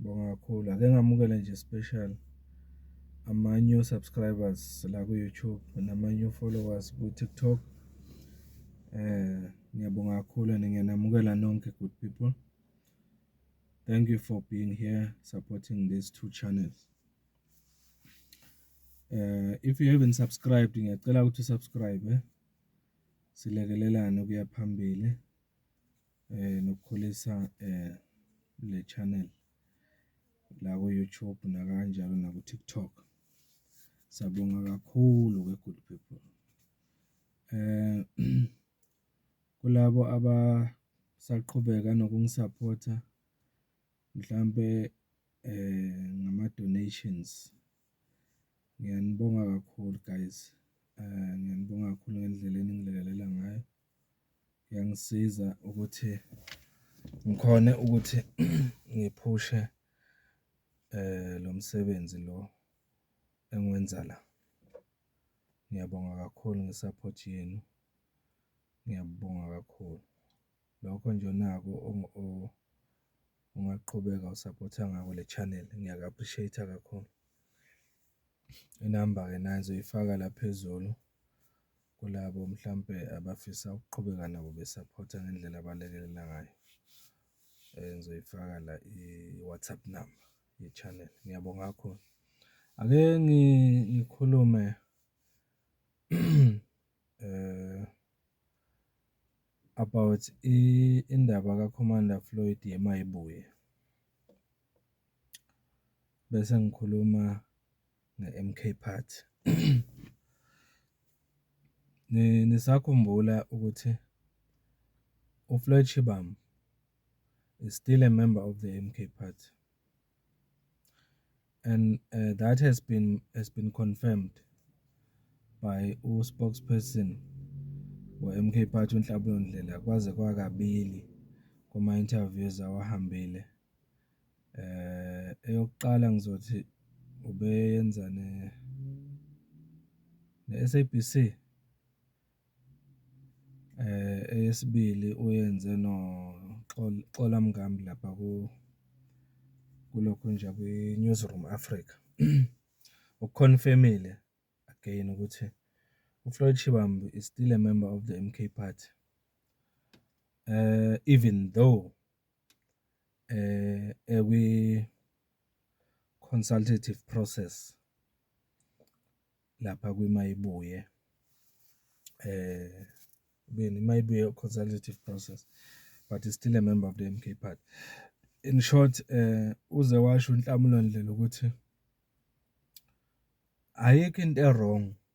Ngibonga kakhulu, ake ngamukele nje special ama-new subscribers la ku-YouTube nama-new followers ku-TikTok. Ngiyabonga kakhulu and ngiyanamukela nonke good people, thank you for being here supporting these two channels. If you haven't subscribed ngiyacela ukuthi u-subscribe-e silekelelane ukuya phambili, nokukhulisa le channel la ku-YouTube nakanjalo naku-TikTok. Siyabonga kakhulu we good people. Kulabo abasaqhubeka nokungisaphotha mhlampe ngama-donations ngiyanibonga kakhulu guys, ngiyanibonga kakhulu ngendlela eningilekelela ngayo. Kuyangisiza ukuthi ngikhone ukuthi ngiphushe lo msebenzi lo engiwenza la. Ngiyabonga kakhulu nge-support yenu, ngiyabonga kakhulu. Lokho nje onako ungaqhubeka usaphotha ngako le channel, ngiyaku-appreciate-a kakhulu. Inamba-ke nayi ngizoyifaka la phezulu. Kulabo mhlampe abafisa ukuqhubeka nabo besaphotha ngendlela abalekelela ngayo, ngizoyifaka la i-WhatsApp number ye-channel. Ngiyabonga kakhulu. Ake ngikhulume about indaba kaKhomanda Floyd yeMayibuye, bese ngikhuluma. nge-M_K party. Nisakhumbula ukuthi uFloyd Shivambu is still a member of the M_K party and that has been has been confirmed by u-spokesperson we-M_K party uNhlabulo Ndlela kwaze kwakabili kuma-interviews awahambile. Eyokuqala ngizothi ubeyenza ne-S_A_B_C, eyesibili uyenze noXola Mngam lapha kulokhu nje kwi-News Room Afrika. Okukhonfemile again ukuthi uFloyd Shivambu is still a member of the M_K party even though. ekwi-consultative process lapha kwiMayibuye, ekubeni iMayibuye consultative process but is still a member of the M_K party. In short uze washo uNhlamulo Ndlela ukuthi ayikho into e-wrong.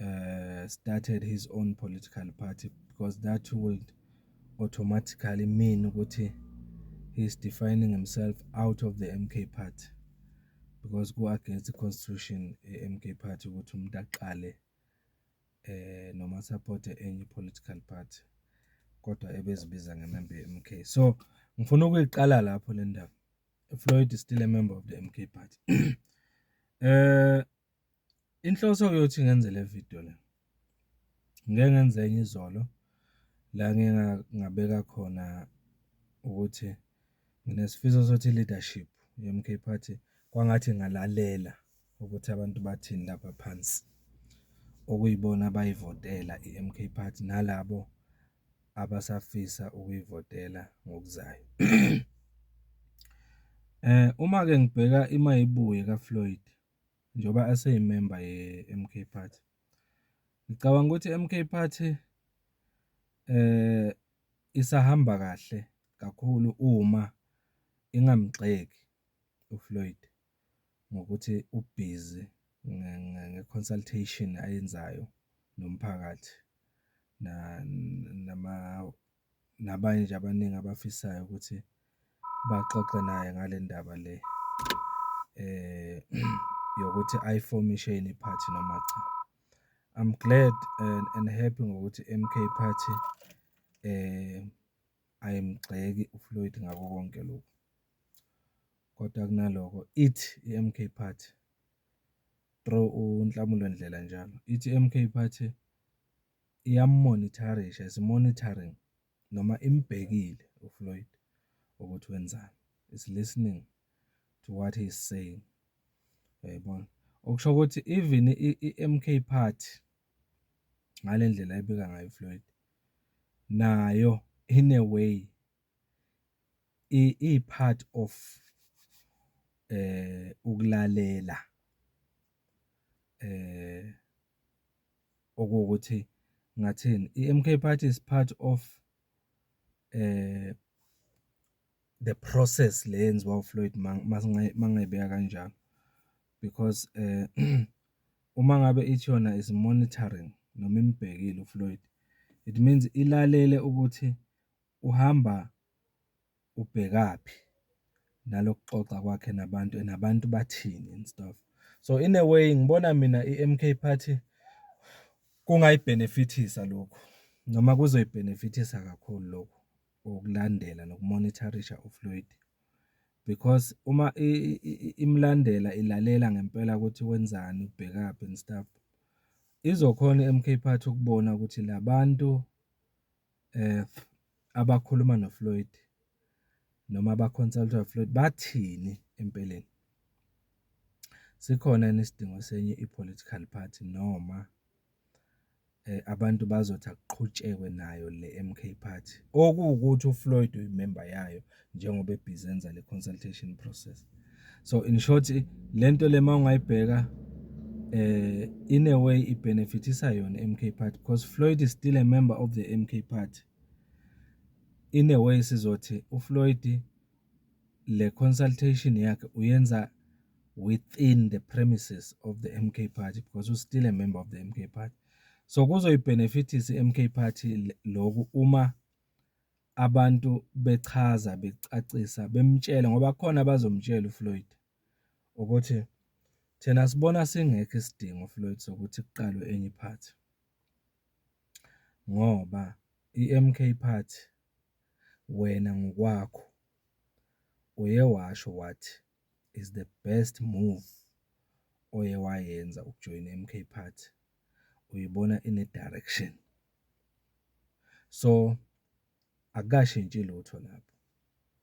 uh, started his own political party because that would automatically mean ukuthi he's defining himself out of the MK party because go against the constitution MK party ukuthi umuntu aqale eh noma support enye political party kodwa ebezibiza ngemember MK so ngifuna ukuyiqala lapho le ndaba Floyd is still a member of the MK party eh Inhloso-ke yokuthi ngenze le vidiyo le, ngike ngenze enye izolo la ngingabeka khona ukuthi nginesifiso sokuthi i-leadership ye-MK Party kwangathi ingalalela ukuthi abantu bathini lapha phansi, okuyibona abayivotela i-MK Party nalabo abasafisa ukuyivotela ngokuzayo. Uma-ke ngibheka imayibuye kaFloyd njengoba eseyimemba ye-M_K party. Ngicabanga ukuthi i-M_K party isahamba kahle kakhulu uma ingamgxeki uFloyd ngokuthi ubhizi nge-consultation ayenzayo nomphakathi . nabanye nje abaningi abafisayo ukuthi baxoxe naye ngale ndaba le yokuthi ayifomishe yini iphathi noma cha. I'm glad and happy ngokuthi i-M_K party ayimgxeki uFloyd ngakho konke lokhu, kodwa kunaloko ithi i-M_K party through uNhlamulo Ndlela njalo, ithi i-M_K party. iyamumonitharisha, is monitoring noma imubhekile uFloyd ukuthi wenzani, is listening to what he is saying. Uyayibona? Okusho ukuthi even i-MK Party ngale ndlela ebika ngayo uFloyd nayo in a way iyi-part of eh ukulalela eh okuwukuthi ngathini iMK party is part of eh the process le yenziwa uFloyd mangayibeka kanjalo because eh uma ngabe ithi yona is monitoring noma imbhekile uFloyd it means ilalele ukuthi uhamba ubhekaphi nalokuxoxa kwakhe nabantu and abantu bathini and stuff. So in a way ngibona mina i-M_K party kungayibhenefithisa lokhu noma kuzoyibhenefithisa kakhulu lokhu ukulandela nokumonitharisha uFloyd. Because uma imlandela ilalela ngempela ukuthi wenzani ubhekaphi and stuff izokhona i-M_K party ukubona ukuthi labantu. abakhuluma noFloyd noma aba-consult-a uFloyd bathini empeleni? Sikhona yini isidingo senye i-political party noma abantu bazothi akuqhutshekwe nayo le-M_K party okuwukuthi uFloyd uyimemba yayo? njengoba ebhizi enza le consultation process so in short lento le mawungayibheka eh in a way i benefitisa yona MK party because Floyd is still a member of the MK party in a way sizothi uFloyd le consultation yakhe uyenza within the premises of the MK party because u still a member of the MK party so kuzoyibenefitisa i-MK party lokhu uma abantu bechaza becacisa bemtshela ngoba kukhona abazomtshela uFloyd ukuthi thina sibona singekho isidingo Floyd sokuthi kuqalwe enye iphathi ngoba iMK Party wena ngokwakho uye washo wathi is the best move oye wayenza ukujoyina MK party uyibona ine direction so akashintshi lutho lapho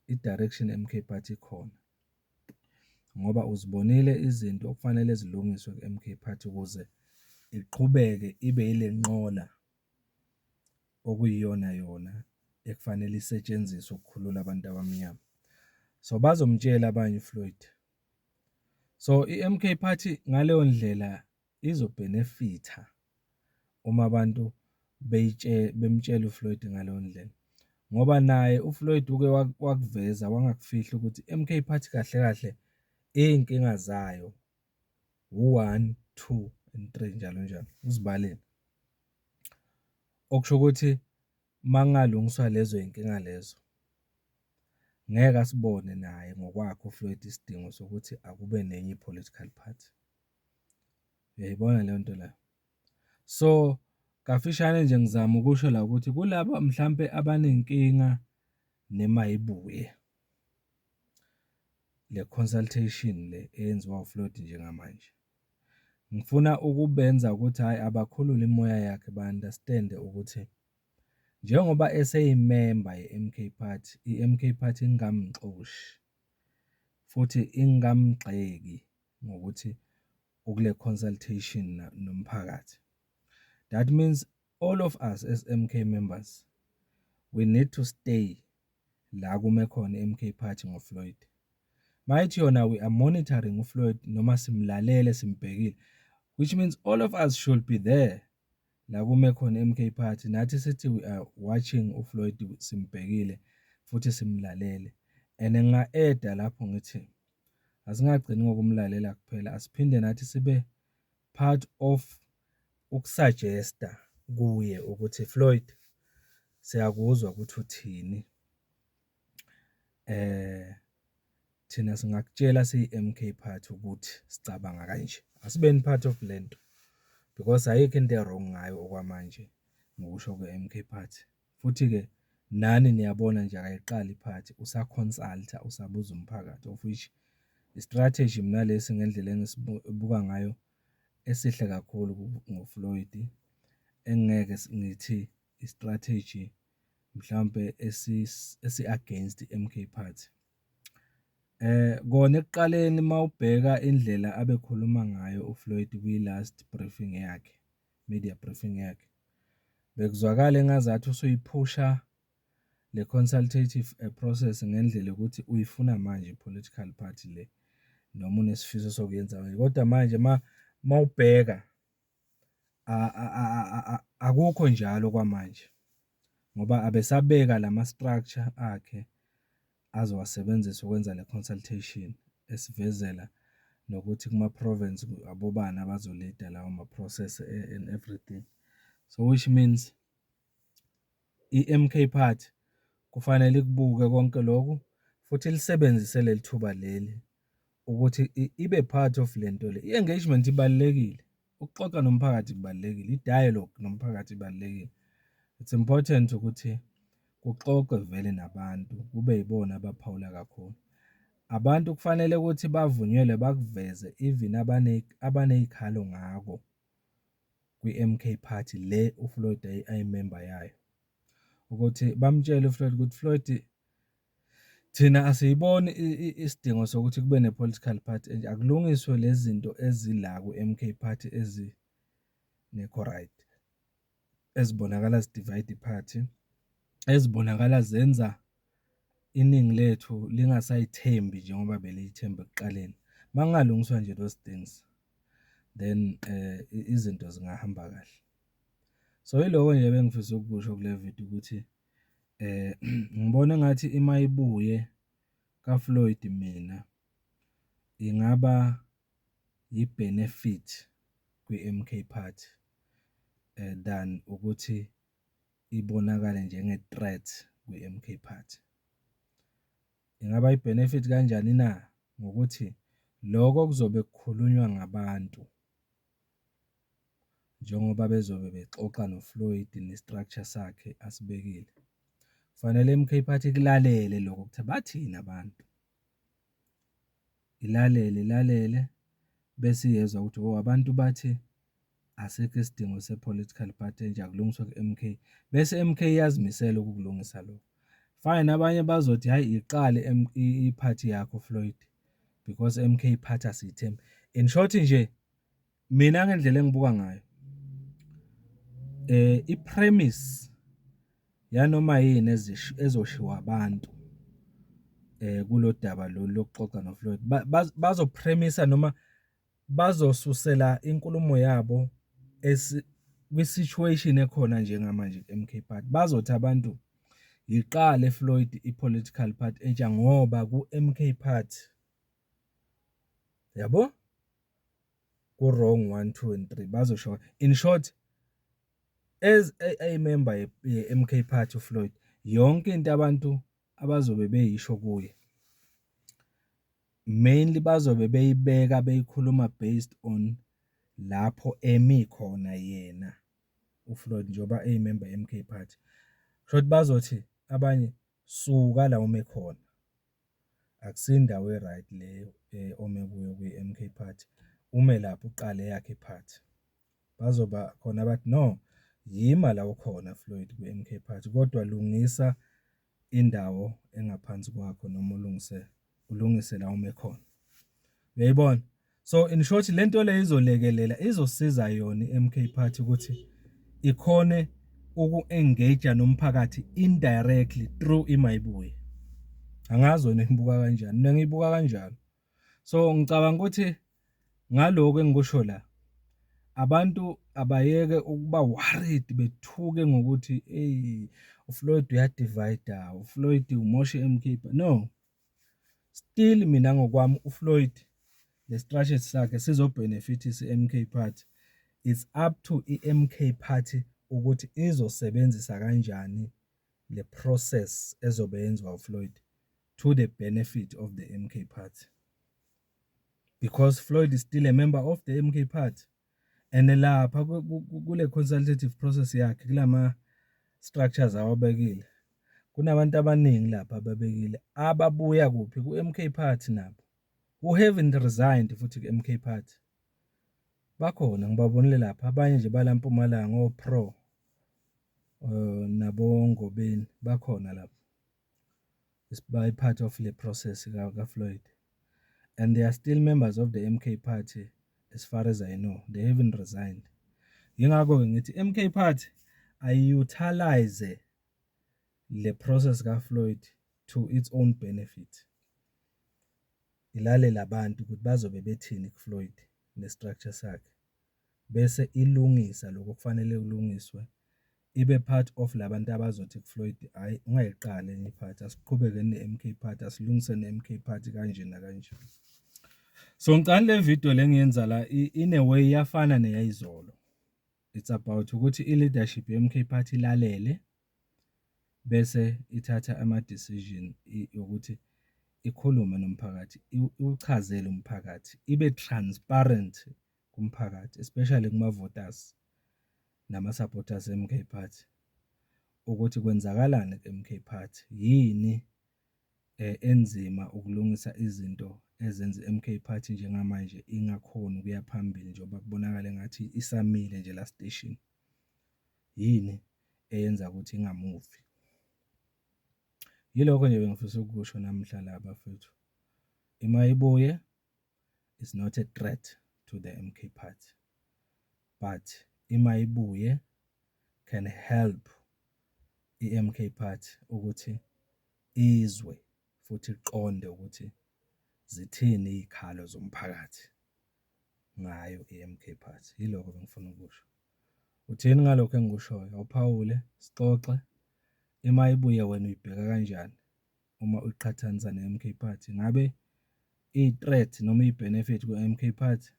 i direction MK party khona ngoba uzibonile izinto okufanele zilungiswe ku MK party ukuze iqhubeke ibe ilenqola okuyiyona yona ekufanele isetshenziswe ukukhulula abantu abamnyama. So bazomtshela abanye uFloyd. So i-MK Party ngaleyo ndlela izobhenefitha uma abantu bemtshela uFloyd ngaleyo ndlela. Ngoba naye uFloyd uke wakuveza wangakufihla ukuthi i-MK Party kahle kahle iy'nkinga zayo u-one, two and three njalo njalo, uzibalele. Okusho ukuthi uma kungalungiswa lezo y'nkinga lezo, ngeke asibone naye ngokwakhe uFloyd isidingo sokuthi akube nenye i-political party. Uyayibona leyo nto leyo? So, kafishane nje ngizama ukusho la ukuthi kulaba mhlampe abanenkinga nemayibuye. le consultation le eyenziwa uFloyd njengamanje. Ngifuna ukubenza ukuthi hhayi abakhulule imoya yakhe ba-understand-e ukuthi njengoba eseyimemba ye-MK Party, i-MK Party ingamxoshi futhi ingamgxeki ngokuthi ukule consultation nomphakathi. That means All of us as MK members we need to stay la kume khona MK party ngo Floyd. Mayithi yona we are monitoring u Floyd noma simlalele simbhekile which means all of us should be there la kume khona MK party nathi sithi we are watching u Floyd simbhekile futhi simlalele and nginga eda lapho ngithi asingagcini ngokumlalela kuphela asiphinde nathi sibe part of ukusajesta kuye ukuthi Floyd siyakuzwa ukuthi uthini eh thina singakutshela siyi-MK part ukuthi sicabanga kanje asibeni part of lento because ayikho into ewrong ngayo okwamanje ngokusho kwe-MK part. Futhi ke nani niyabona nje akayiqali iphathi usa consulta usabuza umphakathi of which istrategy mina lesi ngendlela engisibuka ngayo esihle kakhulu ngoFloyd engeke ngithi istrategy mhlambe esi esi against iMK party eh kona ekuqaleni mawubheka indlela abekhuluma ngayo uFloyd kwi last briefing yakhe media briefing yakhe. Bekuzwakala engazathi usuyiphusha le consultative eh, process ngendlela ukuthi uyifuna manje political party le noma unesifiso sokuyenza manje kodwa manje ma mawubheka akukho njalo kwamanje ngoba abesabeka lama structure akhe azowasebenzisa ukwenza le consultation esivezela nokuthi kuma province abobani abazo leader lawo ma process and everything so which means iMK party kufanele ikubuke konke lokhu futhi lisebenzise leli thuba leli ukuthi ibe part of lento le i engagement ibalekile. ukuxoxa nomphakathi kubalulekile, i-dialogue nomphakathi ibalulekile. It's important ukuthi kuxoxwe vele nabantu kube yibona abaphawula kakhulu. Abantu kufanele ukuthi bavunyelwe bakuveze even abane abaney'khalo ngako kwi-MK Party le uFloyd ayimemba yayo, ukuthi bamtshele uFloyd ukuthi Floyd Thina asiyiboni isidingo sokuthi kube ne-political party enje, akulungiswe lezi zinto ezila ku-M_K party ezingekho right, ezibonakala zi-divide i-party, ezibonakala zenza iningi lethu lingasayithembi njengoba beliyithemba ekuqaleni. Uma kungalungiswa nje those things, then izinto zingahamba kahle. So, iloko nje ebengifisa ukukusho kule video ukuthi. Ngibona engathi uma ibuye kaFloyd mina ingaba yi-benefit kwi-M_K Party than ukuthi ibonakale njenge-threat kwi-M_K Party. Ingaba yi-benefit kanjani na? Ngokuthi loko okuzobe kukhulunywa ngabantu. njengoba bezobe bexoxa noFloyd ne-structure sakhe asibekile. Kufanele iMK Party ikulalele lokho ukuthi bathini abantu, ilalele ilalele bese iyezwa ukuthi hho abantu bathi asikho isidingo se-political party enje akulungiswa ku-M_K, bese i-M_K iyazimisela ukukulungisa lokho. Fine abanye bazothi hhayi iqale i-party yakho Floyd. because MK iphatha sithe in short nje mina ngendlela engibuka ngayo eh i premise yanoma yini ezoshiwa abantu eh kulodaba lolu lokuxoxa noFloyd bazo premise noma bazosusela inkulumo yabo kwi-situation ekhona njengamanje ku-MK Party. Bazothi abantu yiqale Floyd i-political party entsha ngoba ku-MK Party yabo ku-wrong one, two and three bazosho in short as a member ye-MK Party uFloyd yonke into abantu abazobe beyisho kuye. Mainly bazobe beyibeka beyikhuluma based on lapho emi khona yena uFloyd njengoba eyimemba ye-MK Party. Kushuthi bazothi abanye suka la ome khona. Akusiyo indawo e-right le ome kuyo kwi-MK Party. Ume lapho uqale eyakhe i-party. Bazoba khona abathi no yima la ukhona Floyd kwi-MK Party kodwa lungisa indawo engaphansi kwakho noma ulungise ulungise la ume khona uyayibona so in short le nto le izolekelela izosiza yona i-MK Party ukuthi ikhone uku-engage nomphakathi indirectly through imayibuye angazi wena ngibuka kanjani mina ngibuka kanjalo So ngicabanga ukuthi ngaloku engikusho la abantu abayeke ukuba worried bethuke ngokuthi eyi uFloyd uyadivayida, uFloyd umoshe emkhipha. No. Still mina ngokwami uFloyd nestrategy sakhe sizobhenefithisa i-MK Party. It's up to i-MK Party ukuthi izosebenzisa kanjani le process ezobe yenziwa uFloyd. to the benefit of the MK party because Floyd is still a member of the MK party and lapha kule consultative process yakhe kulama structures awabekile kunabantu abaningi lapha ababekile ababuya kuphi ku-MK party nabo who haven't resigned futhi ku-MK party bakhona ngibabonile lapha abanye nje balampumalanga o-pro um eh, nabongobeni bakhona lapha by part of le process kaFloyd and they are still members of the MK party as far as I know they haven't resigned yingakho-ke ngithi MK party ayi-utilize le process kaFloyd to its own benefit ilalele abantu ukuthi bazobe bethini kuFloyd nestructure sakhe bese ilungisa lokho okufanele kulungiswe ibe part of la bantu abazothi kuFloyd hhayi ungayiqali enye iphathi, asiqhubeke ne-M_K party, asilungise ne-M_K party kanje nakanje. So ngicani le video le ngiyenza la in a way iyafana neyayizolo, it's about ukuthi i-leadership ye-M_K party ilalele bese ithatha ama-decision yokuthi ikhulume nomphakathi, iwuchazele umphakathi, ibe transparent kumphakathi especially kumavotas namasupporters eMK Party ukuthi kwenzakalani kuMK Party, yini enzima ukulungisa izinto ezenza iMK Party njengamanje ingakhoni ukuya phambili njengoba kubonakala engathi isamile nje la station. Yini eyenza ukuthi ingamuvi? Yilokho nje bengifisa ukukusho namhla la bafethu. Ima ibuye is not a threat to the MK party but ima ibuye can help iMK party ukuthi izwe futhi iqonde ukuthi zithini izikhalo zomphakathi ngayo iMK party. Yilokho bengifuna ukusho. Uthini ngalokho engikushoyo? Awuphawule, sixoxe. Ima ibuye wena uyibheka kanjani? uma uqhathanisa ne-MK Party. Ngabe iyi-threat noma iyi-benefit ku-MK Party?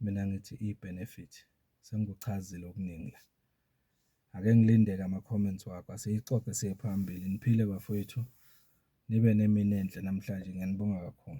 Mina ngithi iyi-benefit. Sengikuchazile okuningi la. Ake ngilinde-ke ama-comments wakho, asiyixoxe siye phambili. Niphile bafowethu, nibe nemini enhle namhlanje, ngiyanibonga kakhulu.